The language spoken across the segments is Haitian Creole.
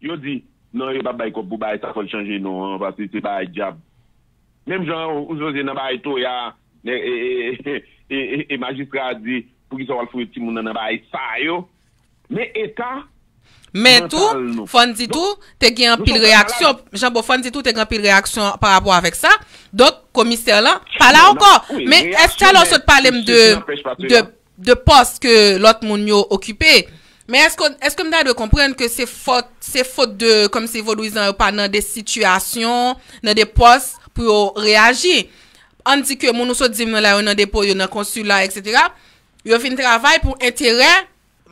Yo di, Non yo pa bay kòb pou bagay sa fòl chanje non an paske se bagay dyab menm jan ou soze nan bagay toya e majistra a di poukisa wal fouye timoun nan nan bagay sa yo. Men eta Men tou, mantal nou. fò n di tou, te gen Nou anpil son pèp reyaksyon, malad. Jan Bo, fò n di tou te gen anpil reyaksyon pa rapò avèk sa, donk komisè lan pa la Bon, ankò. nan- wi, Men reyaksyon, èske alò men sot pale m de, sesi n'anpèch pa de, sela. de pòs ke lòt moun yo okipe, men èske w, èske m ta dwe konprann ke se fòt, se fot de, kòm si vodouyizan yo pa nan de sitiyasyon, nan de pòs pou yo reyaji? An n di ke moun ou sot di m nan la yo nan depo, yo nan konsila, eksetera, Yo vin travay pou enterè,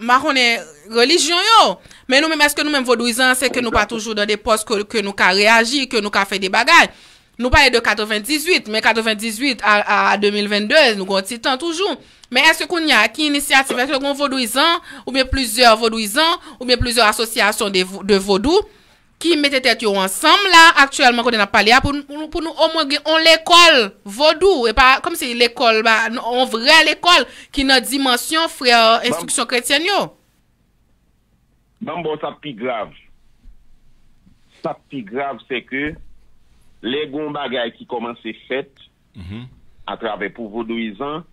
m pa konnen, relijyon yo. Men nou menm, èske nou menm vodouizan an, se ke nou pa toujou nan de pòs ke nou ka reyaji, ke nou ka fè de bagay? Nou pale de 98, men 98 a 2022, nou gen yon ti tan toujou. Men èske kounye a, ki inisyativ, èske gen yon vodouizan, oubyen plizyè vodouizan, oubyen plizyè asosyasyon de vodou, ki mete tèt yo ansanm la aktyèlman kote n ap pale a pou pou nou omwen gen on lekòl vodou e pa kòm si lekòl ba on vrè lekòl ki nan dimansyon frè Ban enstriksyon kretyèn yo. ban m ba w sa k pi grav sa k pi grav sè ke lè gen on bagay ki kòmanse fèt atravè pou vodouyizan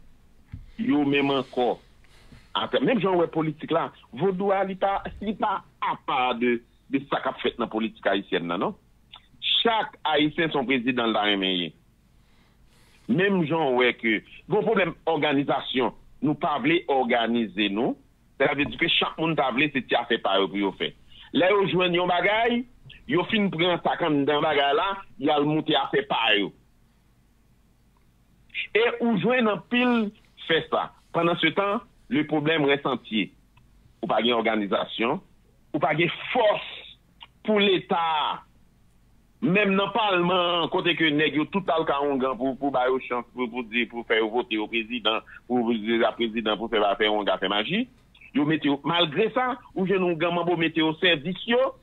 yo menm ankò atra menm jan ou wè politik la vodou a li pa li pa apa de de sa kap fèt nan politik ayisyèn nan non. Chak ayisyen son prezidan li ta renmen ye. Menm jan w wè ke gon pwoblèm òganizasyon, nou pa vle òganize nou, sela vle di ke chak moun ta vle se ti afè pa yo pou yo fè. Lè yo jwenn yon bagay, yo fin pran sa k anndan bagay la, y al moute afè pa yo. E ou jwenn anpil fè sa. Pandan se tan, le pwoblèm rès antye. Ou pa gen òganizasyon. Ou pa gen fòs pou leta a. Menm nan palman an, kote ke nèg yo tout al kawongan pou ba yo chans pou di, pou fè yo vote yo prezidan, pou di la prezidan pou fè ba fè wonga fè maji. Yo mete yo, malgre sa, ou jwenn yon gan manbo mete osèvis yo.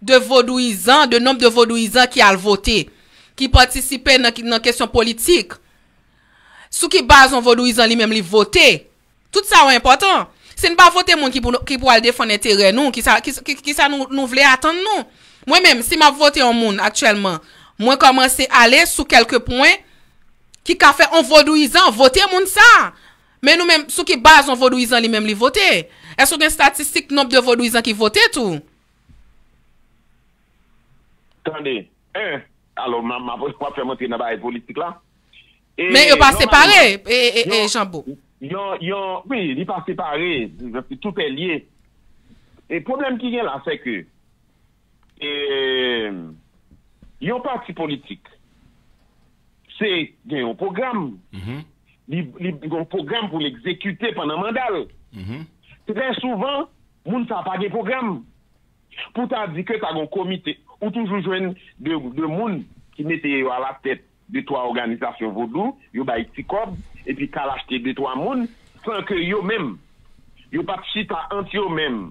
de vodouyizan, de nonb de vodouyizan ki al vote, ki patisipe nan kesyon politik, sou ki baz yon vodouyizan li menm li vote, tout sa yo enpòtan. Si n pa vote moun ki pou al defann enterè nou, ki sa nou vle atann nou? Mwen menm, si m ap vote yon moun aktyèlman, mwen kòmanse ale sou kèlke pwen ki ka fè yon vodouyizan vote moun sa. Men nou menm, sou ki baz yon vodouyizan li menm li vote? Èske w gen statistik nonb de vodouyizan ki vote tou? Tande, 1, alò m ap fè m antre nan bagay politik la. Men yo pa separe, Janbo. Yon, yon, wi, li pa separe, tout è lye. E pwoblèm ki gen la sè ke, e, yon pati politik, se gen yon pwogram, li gen yon pwogram pou l egzekite pandan manda l. Trè souvan, Moun sa pa gen pwogram. Pou ta di ke ta gon komite, ou toujou jwenn de moun ki mete yo a la tèt de twa òganizasyon vodou, yo bay ti kòb, epi kal achte de twa moun, san ke yo menm, yo pat chita ant yo menm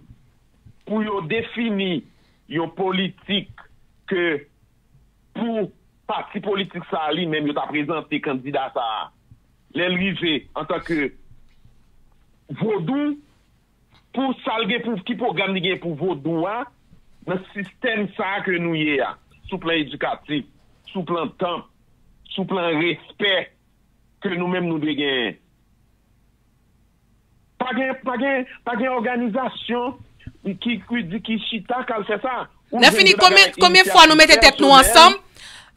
pou yo defini yon politik ke pou pati politik sa li menm yo ta prezante kandida sa a lèl rive antan ke vodou. pou sa l gen pou ki pwogram li gen pou vodou a nan sistèm sa a ke nou ye a sou plan edikatif, sou plan tanp, sou plan respè ke nou menm nou dwe genyen. Pa gen pa gen pa gen òganizasyon ki ki di ki chita k al fè sa. Lè fini konbyen fwa nou mete tèt nou ansanm,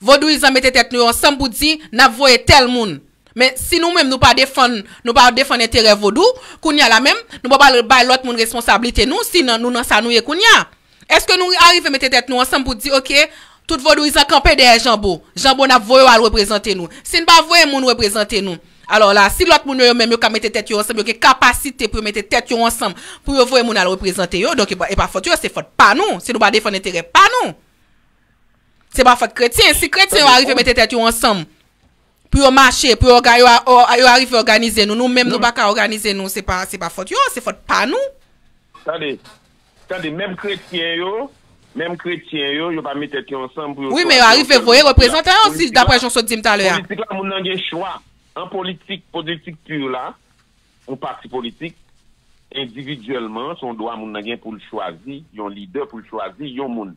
vodouyizan mete tèt nou yo ansanm pou di nap voye tèl moun. Men si nou menm nou pa defann nou pa defann enterè vodou, kounya la menm nou pa pral bay lòt moun responsablite nou si nou nan sa nou ye kounya. Eske nou arive mete tèt nou ansanm pou di ok tout vodouyizan kanpe dèyè janbo, janbo nap voye w al reprezante nou. Si n pa voye moun reprezante nou. Alò la, si lòt moun yo yo menm yo ka mete tèt yo ansanm, yo gen kapasite pou yo mete tèt yo ansanm pou yo voye moun al reprezante yo, donk e pa fòt yo, se fòt pa nou, si nou pa defann enterè pa nou. Se pa fòt kretyen, si kretyen yo arive mete tèt yo ansanm pou yo mache, pou yo arive òganize nou, nou menm nou pa ka òganize nou, se pa fòt yo, se fòt pa nou. Tande, Tande, menm kretyen yo, menm kretyen yo, yo pa met tèt yo ansanm pou yo chwazi yon sèl moun pou ki la. Wi, men yo arive voye reprezantan yo si, daprè jan w sot di m talè a. Politik la, moun nan gen chwa. An politik, politik pur la, yon pati politik, endividyèlman, se yon dwa moun nan gen pou l chwazi yon lidè, pou l chwazi yon moun.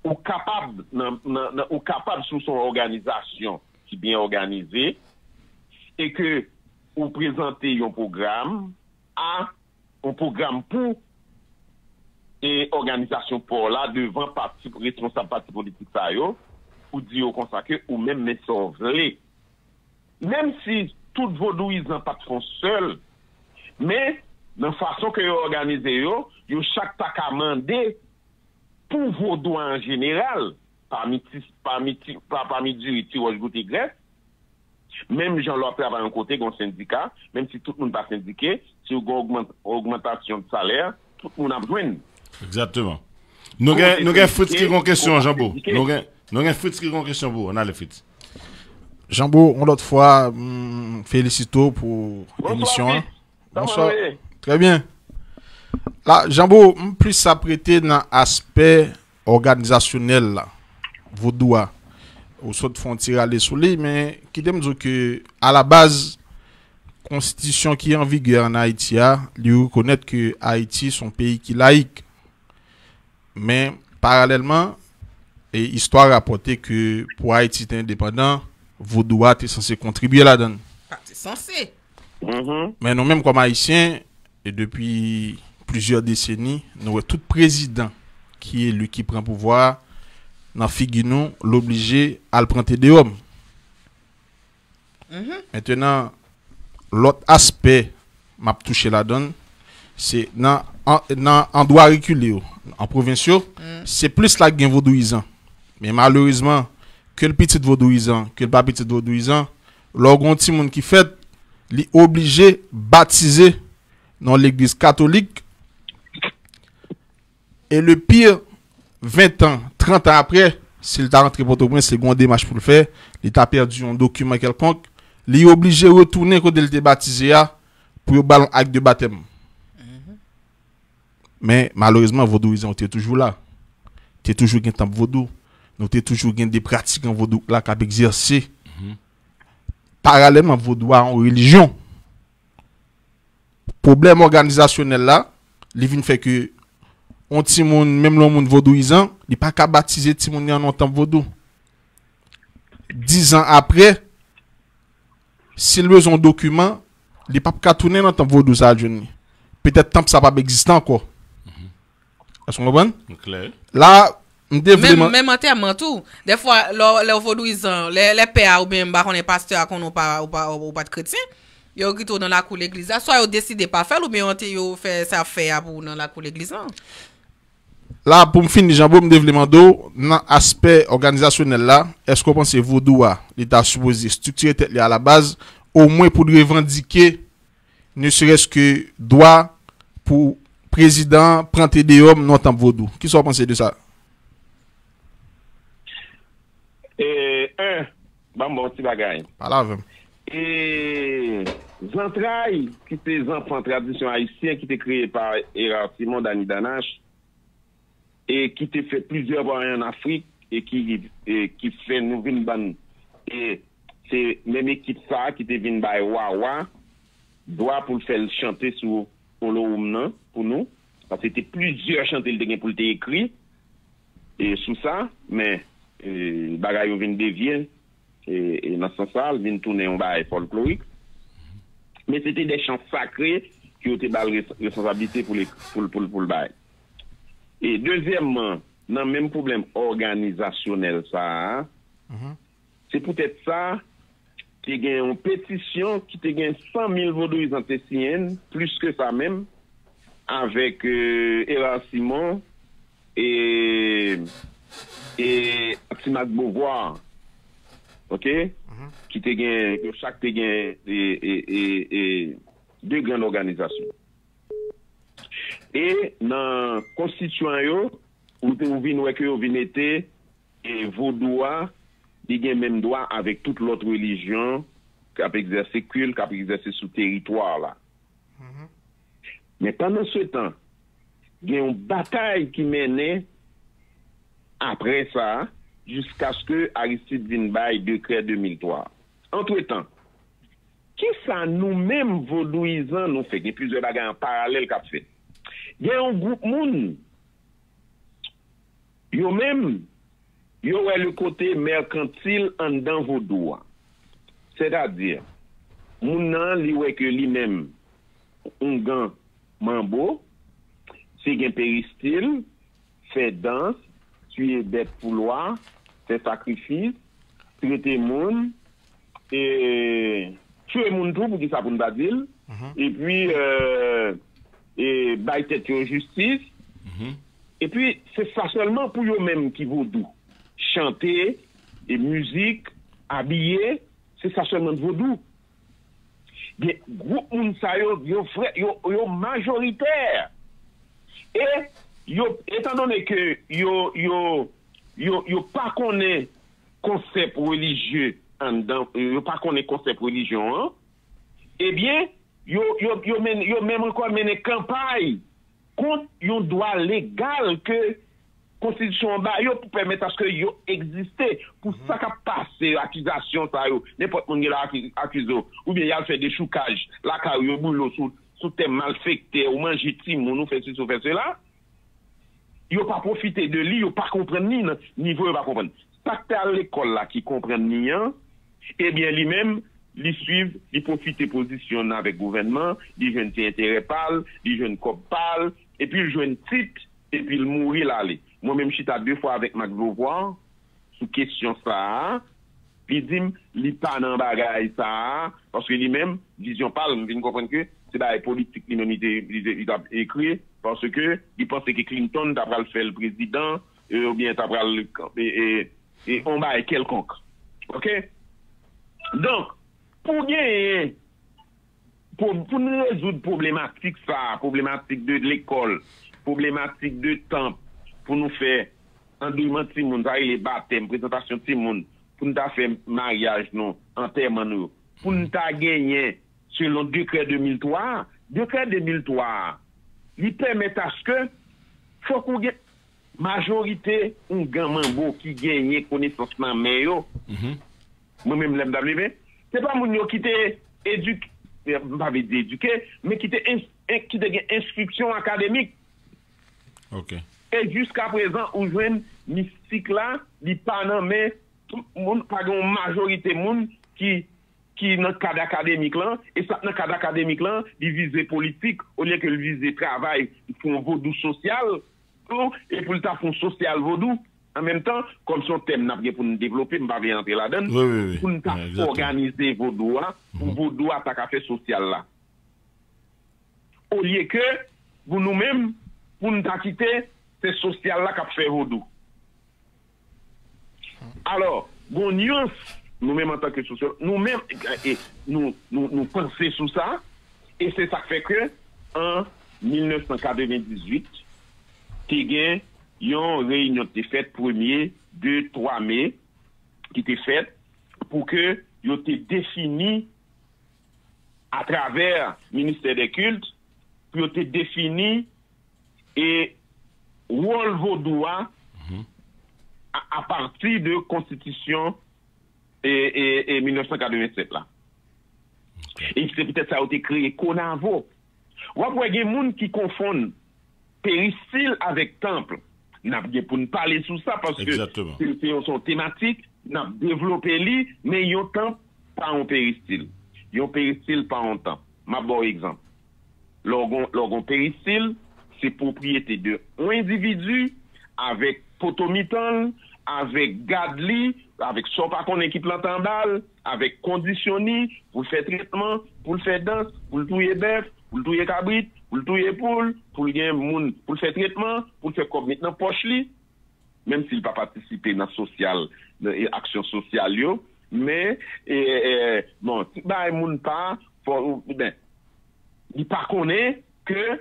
Ou kapab, nan, nan, nan, ou kapab si w se yon òganizasyon ki byen òganize e ke ou prezante yon pwogram a Yon pwogram pou e òganizasyon paw la devan pati responsab pati politik sa yo pou di yo konsa ke ou menm men sa w vle. Menm si tout vodouyizan pat fon sèl, men nan fason ke yo òganize yo, yo chak ta ka mande pou vodou an jeneral, Pa pami diri ti wòch goute grès. Menm jan lè w ap travay yon kote, gen yon sendika, menm si tout moun pa sendike, si w gen yon ogmantasyon de salè, tout moun ap jwenn. Egzakteman. Nou gen Fritz ki gen yon kesyon, Janbo. Nou gen Fritz ki gen yon kesyon pou ou. An ale Fritz. Janbo, yon lòt fwa, m felisite w pou emisyon an. Bonswa Fritz. Trè byen. Janbo, m plis aprete nan aspè òganizasyonèl la, vodou a, ou sot fè yon ti rale sou li, men kite m di w ke alabaz konstitisyon ki an vigè an Ayiti a, li rekonèt ke Ayiti son peyi ki layik. Men, paralèlman, e istwa rapòte ke pou Ayiti te endepandan, vodou a te sanse kontribye ladan l. Pa te sanse! Men nou menm kòm Ayisyen. E depi plizyè deseni, nou wè tout prezidan ki eli ki pran pouvwa a, nan figi nou, l oblije al pran te deòm. Mentenan, lòt aspè m ap touche ladan l, se nan nan andwa rekile yo, an pwovens yo, se plis la ki gen vodouyizan. Men malerezman, ke l pitit vodouyizan, ke l pa pitit vodouyizan, Lè w gen yon timoun ki fèt, li oblije batize nan yon legliz katolik e le pi 20 tan, 30 tan apre, si l ta rantre Pòtoprens, li gen yon demach pou l fè, li ta pèdi yon dokiman kèlkonk, li oblije retounen kote l te batize a pou yo ba l yon ak de batèm. Men, malerezman, vodouyizan yo te toujou la. Te toujou gen tanp vodou. Nou te toujou gen de pratikan vodou k la k ap egzèse. Paralèlman, vodou a yon relijyon. Pwoblèm òganizasyonèl la, li vin fè ke yon timoun, menm lè yon moun vodouyizan, li pa ka batize timoun li an nan yon tanp vodou. Dizan apre, Si l bezwen yon dokiman, li pap ka tounen nan tanp vodou sa a jwenn li. Petèt tanp sa a pap egziste ankò. Èske w konprann? M klè. La a, m te vle. Menm, menm antèman tou. Dèfwa, lè w, lè w vodouizan, lè, lè pè a oubyen m pa konnen pastè a konnen w pa, w pa, w pa t kretyen, yo kite w nan lakou legliz la, swa yo deside pa fè l oubyen yo ante, yo fè sa y ap fè a pou w nan lakou legliz lan. La pou m fini Janbo m te vle mande w nan aspè òganizasyonèl la èske w panse vodou a li ta sipoze striktire tèt li alabaz omwen pou l revandike ne serès ke dwa pou prezidan an pran te deyòm non tanp vodou kisa w panse de sa? 1. Banm bon ti bagay. Pale avè m. E Zantray ki se zanfan tradisyon ayisyen ki te kreye pa Hérard Simon, Dany Danache, e ki te fè plizyè vwayan an Afrik e ki fè nou vin bann e se menm ekip sa a ki te vin bay Wawa dwa pou l fè l chante sou Olowoum nan pou nou. Paske te plizyè chante li te gen pou l te ekri. E sou sa, men, bagay yo vin devye, e nan sans sa a, l vin tounen yon bagay fòlklorik. Men se te de chan sakre ke yo te ba l responsablite pou l bay. E dezyèmman, nan menm pwoblèm òganizasyonèl sa a, Se poutèt sa, te gen yon petisyon ki te gen 100 mil vodouyizan te siyen l, plis ke sa menm, avèk Hérard Simon e Atsimak Beauvoir, ok, ki te gen, yo chak te gen de grann òganizasyon. E nan konstityan yo, ou vin wè ke yo vin mete. E vodou a, li gen menm dwa avèk tout lòt relijyon k ap egzèse kilt, k ap egzèse sou teritwa la. Men pandansetan, gen yon batay ki mennen apre sa a jiskaske Aristide vin bay dekrè 2003 a. Antretan, kisa nou menm vodouyizan nou fè? Gen plizyè bagay an paralèl k ap fèt. Gen yon gwoup moun Yo menm, yo wè le kote merkantil anndan vodou a. Sètadi, moun nan li wè ke li menm oungan manbo, se gen peristil, fè dans, tiye bèt pou lwa, fè sakrifis, trete moun, ee, tchwe moun tou, poukisa pou n pa di l, epi ee. Bay tèt yo jistis. Epi se sa sèlman pou yo menm ki vodou. Chante, mizik, abiye, se sa sèlman vodou. Gen gwoup moun sa yo, yo vrè, yo majoritè. E yo, etandone ke yo, yo, yo, yo pa konnen konsèp relijye anndan, yo pa konnen konsèp relijyon an. Ebyen, yo menm ankò mennen kanpay kont yon dwa legal ke konstitisyon an ba yo pou pèmèt aske yo egziste pou sa k ap pase yo, akizasyon sa yo, nenpòt moun gen dwa akize w, oubyen y al fè dechoukaj lakay ou, yo boule w sou tè malfèktè, ou manje timoun, ou fè sesi, ou fè sela. Yo pa pwofite de li, yo pa konprann li nan nivo yo pa konprann. Sa k te al lekòl la ki konprann li an, ebyen li menm li swiv, li pwofite pozisyon n avèk gouvènman, li jwenn ti enterè pa l, li jwenn kòb pa l, epi l jwenn tit, epi l mouri l ale. Mwen menm chita de fwa avèk Max Beauvoir, sou kesyon sa a, li di m li pa nan bagay sa a, paske li menm, vizyon pa l, m vin konprann ke se bagay politik li menm li t ap ekri, paske li panse ke Clinton ta pral fè l prezidan, oubyen ta pral yon bagay kèlkonk. Ok? Donk, pou genyen. Pou n rezoud pwoblematik sa a, pwoblematik de lekòl, pwoblematik de tan pou nou fè andeyman timoun, sa rele batèm, prezantasyon timoun, pou n ta fè maryaj nou, antèman nou yo, pou n ta genyen selon dekrè 2003 a. Dekrè 2003 a, li pèmèt aske fòk ou gen majorite oungan manbo ki genyen konesans nan men yo. Mwen menm lè m t ap leve, se pa moun yo ki te edike, m pa vle di edike, men ki te en, ki te gen enstriksyon akademik. Ok. E jiskaprezan ou jwenn mistik la, li pa nan men tout moun, pa gen yon majorite moun ki, ki nan kad akademik lan, e sa k nan kad akademik lan, li vize politik olye ke l vize travay pou yon vodou sosyal, pou, e pou l ta fè yon sosyal vodou. An menm tan, kòm se yon tèm n ap gen pou n devlope, m pa vle antre ladan l, pou n ta òganize vodou a, pou vodou a ta ka fè sosyal la. Olye ke pou nou menm, pou n ta kite se sosyal la k ap fè vodou. Alò, gon nyans, nou menm antan ke sosyològ, nou menm, nou panse sou sa, e se sa k fè ke an 1998, te gen. Yon reyinyon te fèt premye, de, twa me ki te fèt pou ke yo te defini atravè ministè dè kilt pou yo te defini e wòl vodou a apati de konstitisyon e 1987 la. E se poutèt sa yo te kreye konavo. Wap wè gen moun ki konfonn Peristil avèk tanp, n ap gen pou n pale sou sa paske se yon tematik, n ap devlope li men yon tanp pa yon peristil, yon peristil pa yon tanp. M ap ba w egzanp, lè w gen yon peristil, se pwopriyete de yon endividi avèk poto mitan l, avèk gad li, avèk sa w pa konnen ki plante anba l. Avèk kondisyon ni pou l fè tretman, pou l fè dans, pou l touye bèf, pou l touye kabrit, pou l touye poul, pou l gen moun pou l fè tretman, pou l fè kòb met nan pòch li, menm si l pa patisipe nan sosyal, nan aksyon sosyal yo, men, bon, tout bagay moun pa, fò, ben, li pa konnen ke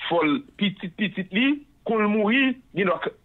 fò l pitit pitit li, kon l mouri, gen dwa k.